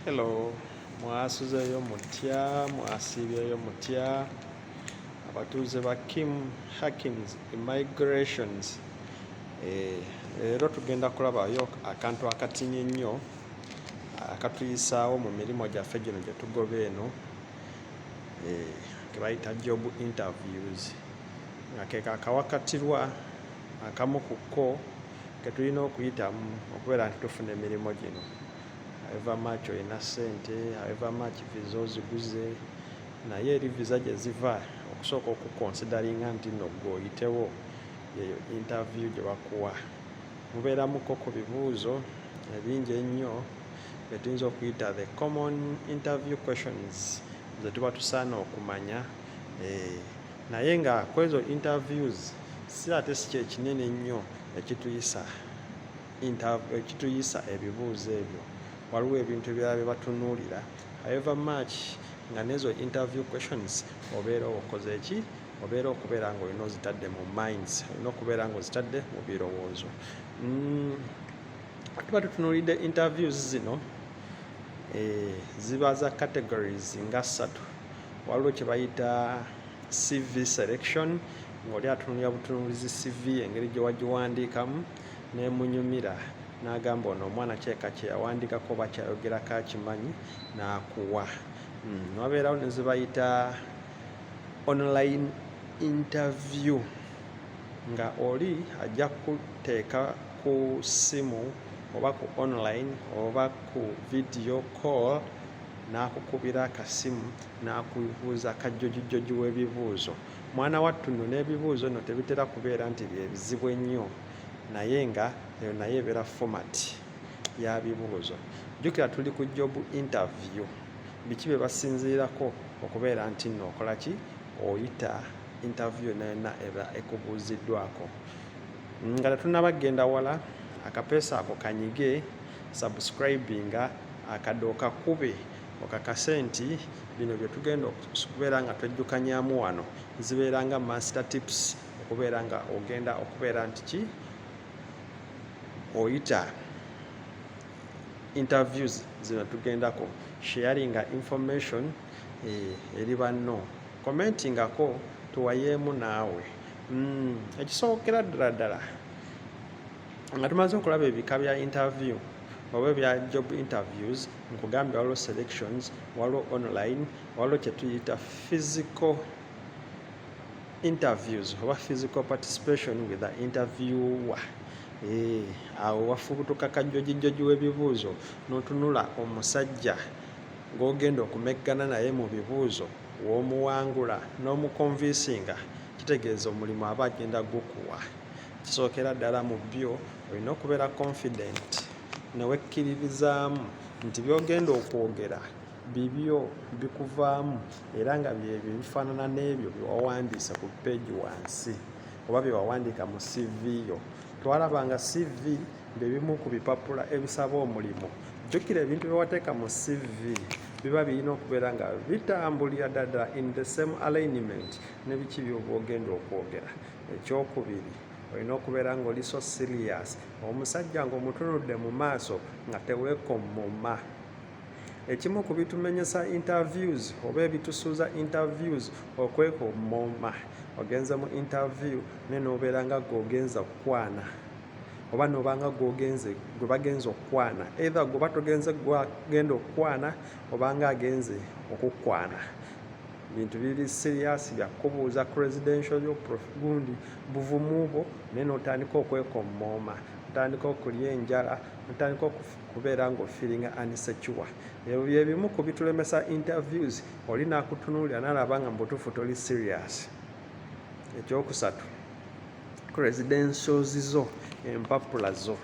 Hello, mwasuzeyo mutya mwasiibyeyo mutya abatuuze ba kim hakins immigrations eh, leero tugenda kulabayo akantu akatinyi ennyo akatuyisaawo mu mirimu gyaffe gino gye tugoba eno eh, ke bayita job interviews nga kekakawakatirwa akamu ku kko ke tulina okuyitamu okubeera nti tufuna emirimu gino however much olina ssente however much visa oziguze naye eri visa gye ziva okusooka okukonsidaringa nti nno gwe oyitewo yeyo interview gye bakuwa mubeeramuko ku bibuuzo ebingi ennyo bye tuyinza okuyita the common interview questions ze tuba tusaana okumanya eh, naye nga kwezo interviews si ate si kyekinene ennyo ekituyisa ekituyisa ebibuuzo ebyo waliwo ebintu ebirala bye batunuulira however much nga nezo interview questions obeera okoze eki obeera okubeera nga olina ozitadde mu minds olina okubeera nga ozitadde mu birowoozo mm, tuba tutunuulidde interviews zino eh, ziba za categories nga ssatu waliwo kye bayita cv selection ng'oli atunulira butunulizi cv engeri gye wagiwandiikamu nemunyumira n'agamba ono omwana kyeka kye yawandiikako oba kyayogerako akimanyi n'akuwa hmm, wabeerawo ne zibayita online interview nga oli ajja kuteeka ku ssimu oba ku online oba ku video call n'akukubira akasimu n'akubuuza akajjojijjoji w'ebibuuzo mwana wattu nno n'ebibuuzo nno tebitera kubeera nti byebizibu ennyo naye nga eyo naye ebeera format ya bibuuzo jjukira tuli ku job interview biki bye basinziirako okubeera nti nno okola ki oyita interview yonna yonna eba ekubuuziddwako nga tetunaba kugenda wala akapeesa ako kanyige Subscribinga akade okakube okakase nti bino byetugenda okubeera nga twejjukanyamu wano zibeera nga master tips okubeera nga ogenda okubeera nti ki oyita interviews zino tugendako sharinga information eh, eri banno commentingako tuwayeemu naawe mm, ekisookera ddala ddala nga tumaze okulaba ebika bya interview oba ebya job interviews nkugambye waliwo selections waliwo online waliwo kyetuyita physical interviews oba physical participation with the interviewer eh, awo wafubutuka kajjojijjoji w'ebibuuzo n'otunula omusajja gw'ogenda okumeggana naye mu bibuuzo w'omuwangula n'omukonvinsinga kitegeeza omulimu aba agenda gukuwa Ekisookera ddala mu byo olina okubeera confident ne wekkiririzaamu nti by'ogenda okwogera bibyo bikuvaamu era nga byebyo ebifaanana n'ebyo bye wawandiise ku peegi wansi oba bye wawandiika mu CV yo. Twalaba nga CV bye bimu ku bipapula ebisaba omulimu. Jjukira ebintu bye wateeka mu CV biba birina okubeera nga bitambulira ddala in the same alignment ne biki by'oba ogenda okwogera. ekyokubiri olina okubeera nga oli so sirias omusajja ngaomutunudde mu maaso nga tewekomoma ekimu ku bitumenyesa interviews oba ebitusuuza interviews okwekomoma ogenze mu interview naye nobeera nga gweogenza okukwana oba noba nga gwogenze gwe bagenza okukwana either gwoba togenze gwagenda okukwana obanga agenze okukwana bintu biri siriyasi byakubuuza credential yo prof gundi buvumu bwo naye notandika okwekommooma otandika okulya enjala otandika okubeera nga ofiringa unsecure ebyo byebimu ku bitulemesa interviews oli nakutunuulira nalaba nga mubutuufu toli serious ekyokusatu credentials zo empapula zo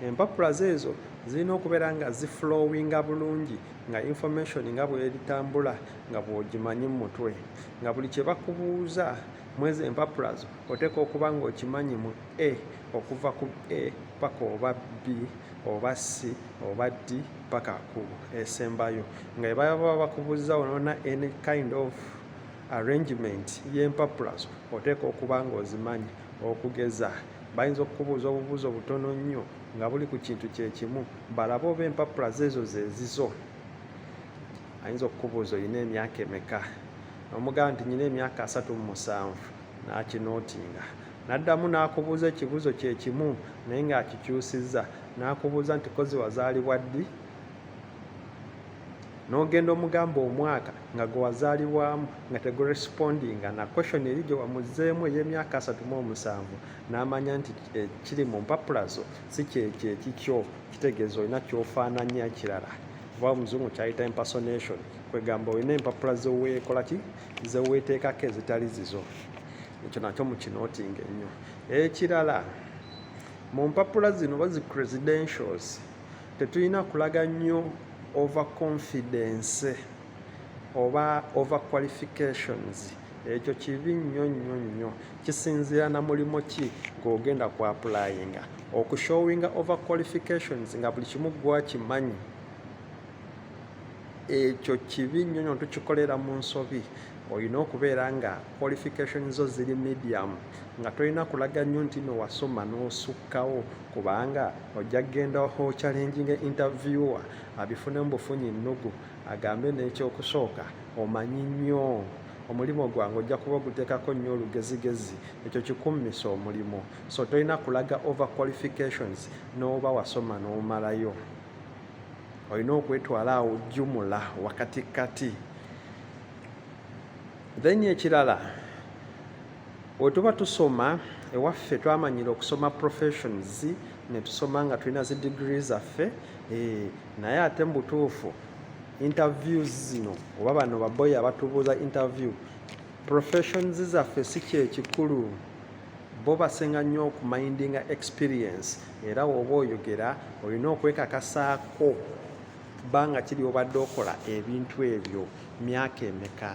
empapula zo ezo zirina okubeera nga ziflowinga bulungi nga information nga bweritambula nga bw'ogimanyi mu mutwe nga buli kye bakubuuza mwezi empapula zo oteeka okuba ng'okimanyi mu a okuva ku a paka oba b oba c oba d paka ku esembayo nga ebaba bakubuuza onona any kind of arrangement y'empapula zo oteeka okuba ng'ozimanyi okugeza bayinza okukubuuza obubuuzo butono nnyo nga buli ku kintu kye kimu balabe oba empapula zeezo zeezizo ayinza okukubuuza olina emyaka emeka omugamba nti nyina emyaka asatu mu musanvu n'akinootinga n'addamu n'akubuuza ekibuuzo kye kimu naye ng'akikyusizza n'akubuuza nti kozi wazaalibwa ddi n'ogenda omugamba omwaka nga gwe wazaalibwamu nga tegurespondinga na question eri gye wamuzzeemu ey'emyaka asatu mu omusanvu n'amanya nti eh, kiri mu mpapula zo si kyekyo ekikyo kitegeeza olina kyofaananya ekirala kuba omuzungu kyayita impersonation kwegamba olina empapula zeweekolaki zeweeteekako ezitali zizo ekyo nakyo mukinoting ennyo ekirala mu mpapula zino oba zi credentials tetulina kulaga nnyo over confidence oba over qualifications ekyo kibi nnyo nnyo nnyo kisinziira na mulimu ki gw'ogenda ku apulayinga okushowinga over qualifications nga buli kimu gwakimanyi ekyo kibi nnyo nnyo tukikolera mu nsobi olina okubeera nga qualification zo ziri medium nga tolina kulaga nnyo nti no wasoma n'osukkawo kubanga ojja kugenda ho challenging interviewer abifune mu bufunyi nnugu agambe n'ekyokusooka omanyi nnyo omulimu gwange ojja kuba oguteekako nnyo olugezigezi ekyo kikummisa omulimu so tolina kulaga over qualifications n'oba wasoma n'omalayo olina okwetwala awo jumula wakati kati then ekirala wetuba tusoma ewaffe twamanyira okusoma professions netusoma nga tulina zi digiri zaffe eh, naye ate mu butuufu interviews zino oba bano baboyi abatubuuza interview professions zaffe si kyekikulu bo basinga nnyo okumindinga experience era woba oyogera olina okwekakasaako bbanga kiri obadde okola ebintu ebyo myaka emeka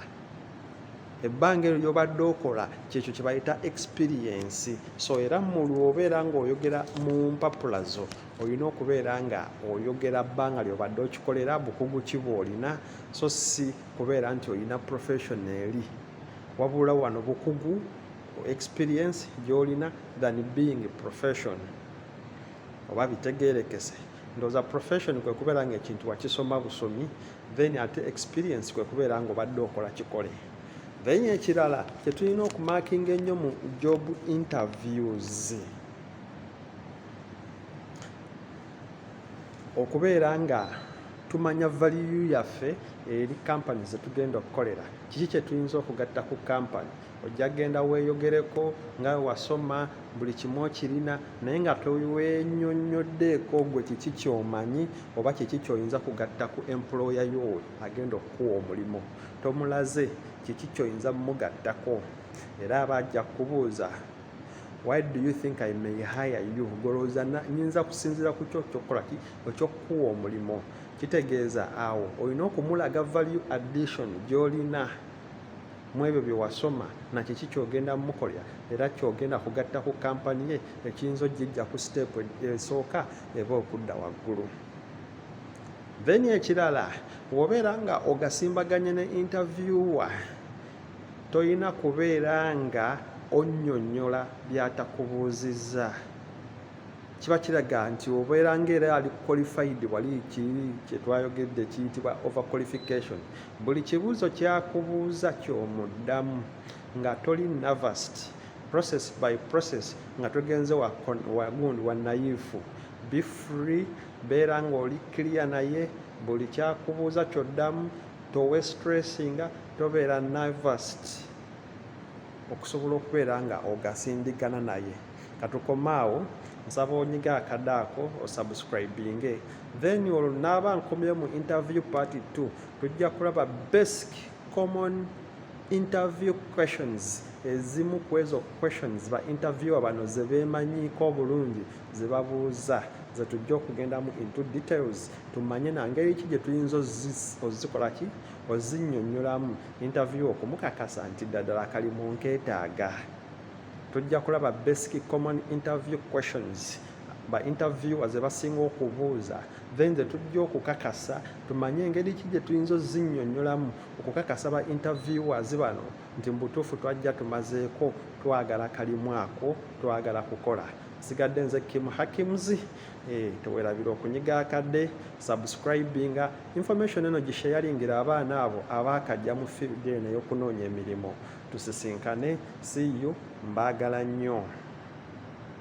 ebbanga eryo lyobadde okola kyekyo kyebayita experience so era mulwobeera ngaoyogera mu mpapula zo olina okubeera nga oyogera bbanga lyobadde okikolera bukugu ki bwolina so si kubeera nti olina profession eri wabula wano bukugu experience gyolina than being profession oba bitegerekese ndoza profession kwe kubeera nga ekintu wakisoma busomi then ate experience kwe kubeera nga obadde okola kikole then ekirala kyetulina okumakinga ennyo mu job interviews okubeera nga tumanya valiyu yaffe eri kampani zetugenda okukolera kiki kyetuyinza okugatta ku kampani ojja genda weeyogereko nga wasoma buli kimu okirina naye nga tewenyonyoddeeko gwe kiki kyomanyi oba kiki kyoyinza kugatta ku employa yo agenda okukuwa omulimu tomulaze kiki kyoyinza mumugattako era aba ajja kukubuuza why do you think i may hire you golowooza nyinza kusinziira ku kyo kyokukola ki ekyokukuwa omulimu kitegeeza awo olina okumulaga value addition gyolina mu ebyo bye wasoma na kiki kyogenda mukolera era kyogenda kugatta ku kampani ye ekiyinza ogijja ku siteepu esooka eba okudda waggulu then ekirala wobeera nga ogasimbaganye ne interviewer Tolina kubeera nga onnyonnyola by'atakubuuzizza. Kiba kiraga nti obeera ng'era ali qualified wali ki kye twayogedde kiyitibwa over qualification. Buli kibuuzo kyakubuuza ky'omuddamu nga toli nervoused process by process nga togenze wagundi wa nayiifu. Be free, beera ng'oli clear naye buli kyakubuuza ky'oddamu. towe stressinga tobeera nervast okusobola okubeera nga ogasindigana naye katukomaawo nsaba onyiga akada ako osubscribinge then olwo naaba nkomyeyo mu interview party 2 tujja kulaba basic common interview questions ezimu ku ezo questions ba interviewa bano zebeemanyiiko obulungi zebabuuza zetujja okugendamu into details tumanye na ngeri ki gye tuyinza ozikola ki ozinyonyolamu interview okumukakasa nti ddadala kali mu nketaaga tujja kulaba basic common interview questions ba interviewer ze basinga okubuuza then ze tujja okukakasa tumanye engeri ki gye tuyinza ozinyonyolamu okukakasa ba interviewers bano nti mubutuufu twajja tumazeeko twagala kalimu ako twagala kukola sigadde nze kimu hakimzi Eh, tewerabira okunyiga akadde subscribinga information eno gisheyalingira abaana abo abaakajja mu field eno eyokunoonya emirimu tusisinkane see you mbaagala nnyo